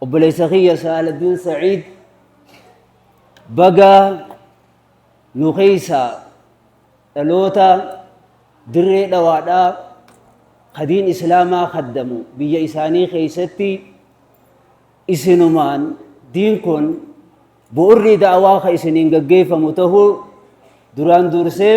Obboleessa kiyya Saaladdiin Sa'iid baga nu keessaa dhaloota dirree dhawaadhaa kadiin islaamaa kaddamu biyya isaanii keessatti isinumaan diin kun bu'urri da'awaa ka isiniin gaggeeffamu ta'uu duraan dursee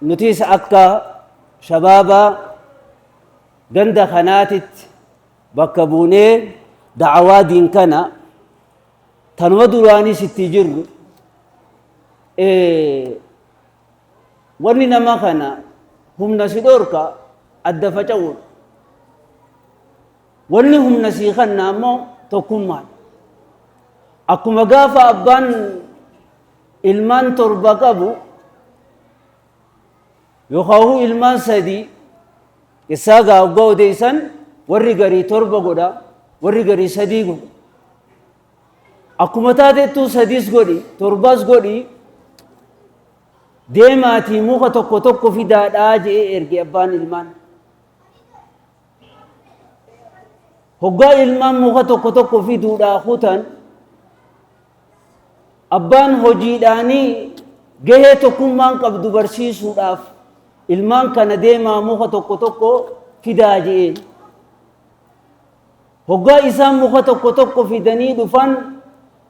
Nutis akka shabaaba ganda kanaatitti bakka buunee da'awaa diin kana tanuma duraanis itti jirru wanni nama kana humna si dhorka adda faca'uun wanni humna sii kanna ammoo tokkummaan akkuma gaafa abbaan ilmaan torba qabu yookaan ilmaan sadii isaa gaa oggaa odeessan warri garii torba godha warri garii sadii godha akkuma taatettuu sadiis godhi torbaas godhi deemaatii muka tokko tokko fidaadhaa je'ee erge abbaan ilmaan hoggaa ilmaan muka tokko tokko fiduudhaa kutan abbaan hojiidhaanii gahee tokkummaan qabdu barsiisuudhaaf ilmaan kana deemaa muka tokko tokko fidaa je'een hoggaa isaan muka tokko tokko fidanii dhufan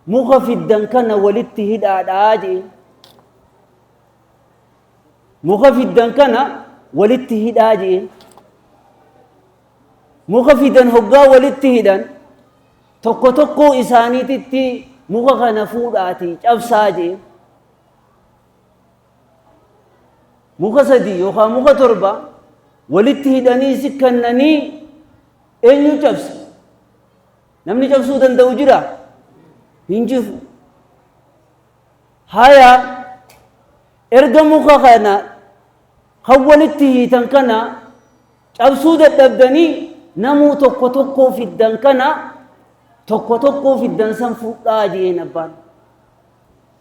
muka fiddan kana walitti hidhaadhaa je'een Muka fiddan kana walitti hidhaa je'een. Muka fidan hoggaa walitti hidhan tokko tokkoo isaaniititti muka kana fuudhaatii cabsaa je'een. Muka sadii yookaan muka torba walitti hidhanii si kennanii eenyu cabsa? Namni cabsuu danda'u jira? Hin jiru. Hayaa Erga muka kana kan walitti hiitan kana cabsuu dadhabdanii namuu tokko tokkoo fiddan kana tokko tokkoo fiddan san fudhaa jeen abbaan.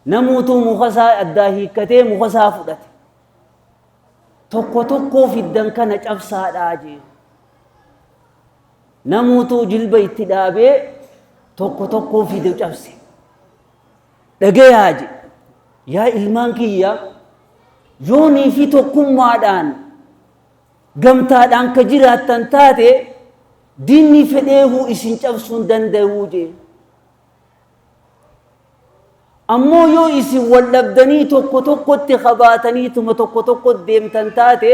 Namuutuu muka isaa addaa hiikkatee muka isaa fudhate. Tokko tokkoo fiddan kana cabsaadhaa jeen. Namuutuu jilba itti dhaabee tokko tokkoo fide cabse. Dhagayaa jedhe. Yaa ilmaan kiyya yoonii fi tokkummaadhaan gamtaadhaan ka jiraattan taate diinni fedheehuu isin cabsuu hin danda'uu jee. Ammoo yoo isin wal dhabdanii tokko tokkotti kabaataniituma tokko tokko deemtan taate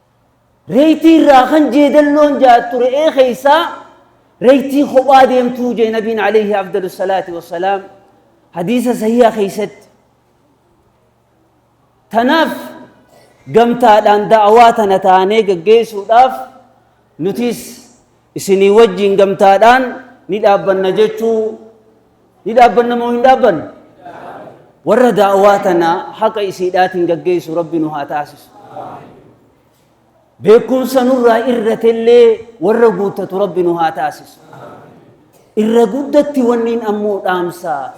Reeytii irraa kan jeedalloon ja'attu re'ee keeysaa reeytii kophaa deemtuu ja'e nabiin aleeyhi afdalu salaati wassalaam hadiisa sahiiha keeysatti tanaaf gamtaadhaan da'awaa tana taanee gaggeeysuudhaaf nutiis Isinii wajjin gamtaadhaan ni dhaabbanna jechuu ni dhaabbanna moo hin dhaabbannu? Warra daawaa tana haqa isiidhaatiin gaggeessu Rabbi nu haa taasisu. Beekumsa nurraa irratellee warra guuttatu Rabbi nu haa taasisu. Irra guddatti wanniin ammoo dhaamsaa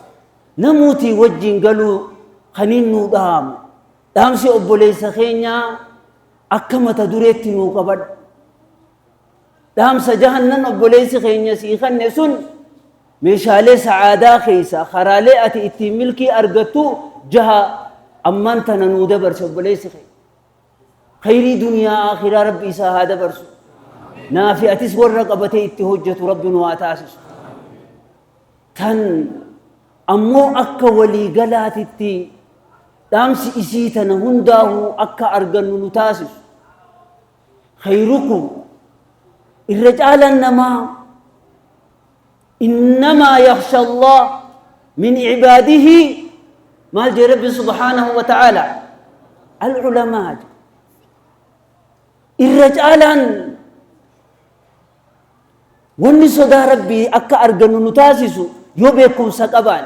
namuutii wajjin galuu kaniin nuu dhaamu dhaamsi obboleessa keenyaa akka mata dureetti nuu qabadhu. Dhaamsa jahannan obboleessi keenya sii kanne sun meeshaalee sa'aadaa keessaa karaalee ati ittiin milkii argattu jaha ammaan tana nuu dabarse obboleessi keenya. Khayrii duniyaa aakhiraa rabbi isaa haa dabarsu. Naafi atis warra qabatee itti hojjetu rabbi nu haa taasisu. Tan ammoo akka walii galaatitti dhaamsi isii tana hundaa'uu akka argannu nu taasisu. khayrukum irra caalaan namaa innamaa yakhsha allah min cibaadihi maal jee rabbi subhaanahu wa ta'aala alculamaa je irra caalaan wanni sodaa rabbii akka argannu nu taasisu yoo beekumsa qabaan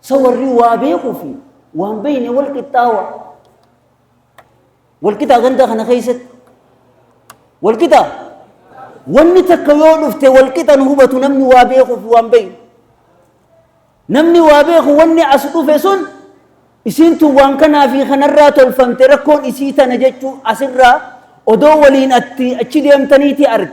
Sa warri waa beekuu fi waan beekne wal qixxaawa. Wal qixaa ganda kana keessatti. Wal qixaa. Wanni takka yoo dhufte wal qixan hubatu namni waa beekuu fi waan beekne. Namni waa beeku wanni as dhufe sun isiintu waan kanaa fi kanarraa tolfamte rakkoon isii tana jechuu asirraa odoo waliin atti achi deemtaniiti arge.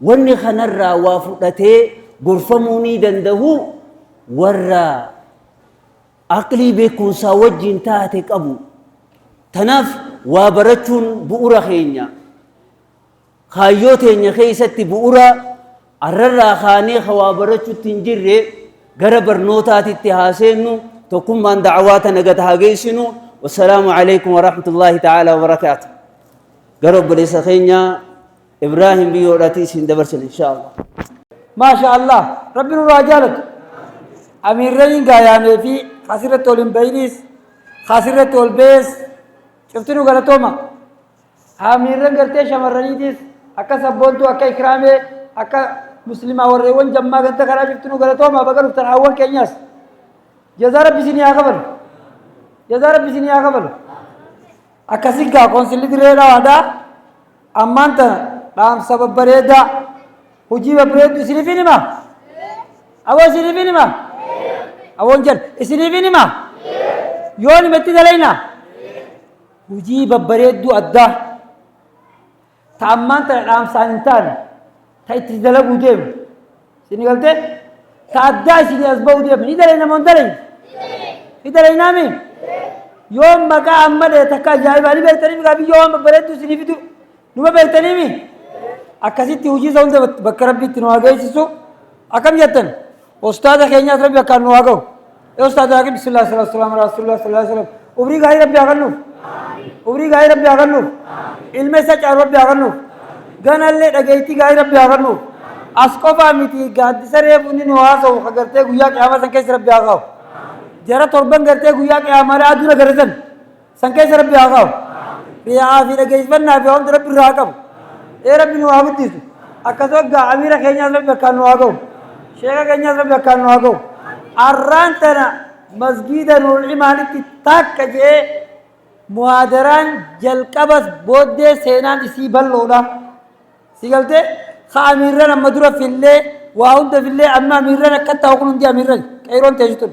Wanni kanarraa waa fudhatee gorfamuu ni dandahu warra aqlii beekumsaa wajjiin taate qabu. Tanaaf waa barachuun bu'ura keenya. Kaayyoo teenya keessatti bu'ura arrarraa kaanee ka waa barachutti hin jirre gara barnootaatitti haa seennu tokkummaan da'awaa tana gad haa geessinu. Wassalaamu alaikum warahmatullaahi ta'aalaa wabarakaatu. Gara obboleessa keenyaa Ibrahim biyyoodhaatii isin dabarsan inshaallah. Maasha Allah rabbi nurraa jaalatu. Amiirraniin gaayaamee fi kaasirratti ol hin bahinis kaasirratti ol bahees cuftinu galatooma. Amiirran gartee shamarraniitis akka sabboontuu akka ikraamee akka muslimaa warreewwan jammaa ganta kanaa cuftinu galatooma baga dhuftan haawwan keenyaas. Jazaa rabbi isinii haa kafalu. Jazaa rabbi isinii haa kafalu. Akkasii gaa Koonsilli Dirree Dhawaadaa ammaan tana dhaamsa babbareedaa hojii babbareedduu isiniif hin himaa? Aboo isiniif hin himaa? Aboon jedha isiniif hin himaa? Yoo nimetti dalaynaa? Hojii babbareedduu addaa. ta ammaan tana dhaamsaan hin taane ta itti dalaguu deemu isin galte ta addaa isinii as ba'uu deemu ni dalayna moo hin dalayne ni dalaynaa mi yoo maqaa amma dhahe takka ajaa'ibaa ni beektanii migaa biyyoo waan babbareedduu isinii fidu numa beektanii mi akkasitti hojii isa hunda bakka rabbiitti nu haa geessisu Akkam jettan ustaaza keenyaas rabbi akkaan nu haa gahu. Ee ustaaza Waaqi bismillah sallallahu alaihi wasallam rasulullah sallallahu alaihi wasallam umrii gaarii rabbi haa kennuuf. Umrii gaarii rabbi haa kennuuf. Ilma isa caalu rabbi haa kennuuf. Ganallee dhageettii gaarii rabbi haa kennuuf. As qofaa miti gaaddisa reefu inni nu haasa'u ka gartee guyyaa qiyaamaa san keessa rabbi haa kaa'u. Jara torban gartee guyyaa qiyaamaa aduu na garrisan. San keessa rabbi haa kaa'u. Riyaa fi dhageessifannaa fi hawamti rabbi irraa haa qabu. Ee rabbi nu haa guddisu. Akkasuma gaa amiira keenyaas rabbi akkaan nu haa gahu. Sheeka keenyaas rabbi akkaan nu haa gahu. Arraan tana masgiida nuurul imaanitti takka je'ee muhaadaraan jalqabas booddee seenaan isii bal'oodha. Si galtee ka amiirran amma dura fillee waa hunda fillee amma amiirran akka ta'u kun hundi amiirran qeeroon teessu tun.